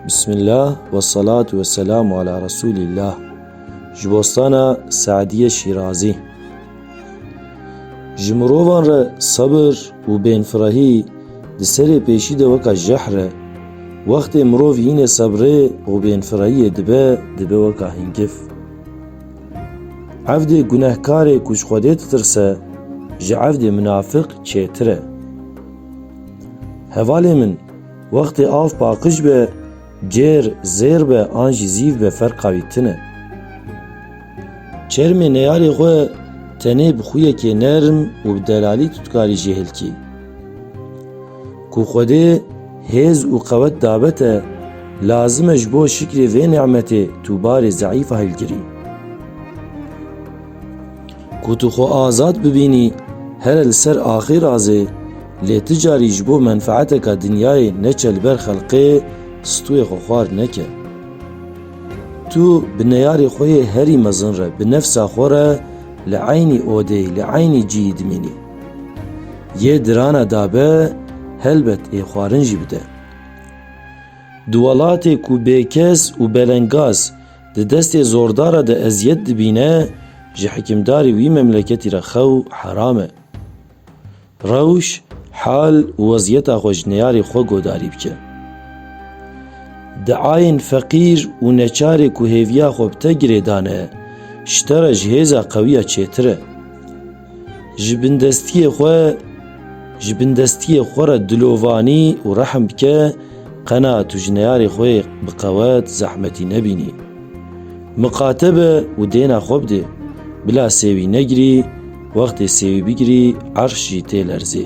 Bismillah ve salatu ve selamu ala Resulillah. Ji bostana Sa'diye Şîrazî. Ji mirovan re sabir û bênfirehî di serê pêşî de weka jehr e. Wextê mirov hînê sebrê û bênfirehiyê dibe, dibe weka hingif. Evdê gunehkarê ku ji Xwedê ditirse, ji evdê minafik çêtir e. Hevalê min, Wextê av paqij be, cêr, zêr be an jî zîv be ferqa wî tin e. Çermê neyarê xwe tenê bi xûyekê nerm û bi delalî tu dikarî jê hilkî. Ku Xwedê hêz û qewet dabe te, lazim e ji bo şikrê vê ni'metê tu barê ze'îfa hilgirî. Ku tu xwe azad bibînî here li ser axê razê, lê ti carî ji bo menfeeteka dinyayê neçe li ber xelqê stûyê xwe xwar neke. Tu bi neyarê xwe yê herî mezin re bi nefsa xwe re li eynî odê, li eynî cîyî dimînî. Yê dirana dabe helbet ê xwarin jî bide. Di welatê ku bêkes û belengaz, Di destê zordara de eziyet dibîne ji hikimdarî wî memleketî re xew heram e. Rewş, hal û weziyeta xwe ji neyarê xwe godarî bike. Diayên feqîr û neçarê ku hêviya xwe bi te girêdane, ji te re ji hêza qewiya çêtir e. Ji bindestiyê xwe ji bindestiyê xwe re dilovanî û rehm bike qena tu ji neyarê xwe yê bi qewet zehmetî nebînî. Miqate be û dêna xwe bidê. Bila sêwî negirî, wextê sêwî bigirî erş jî tê lerzê.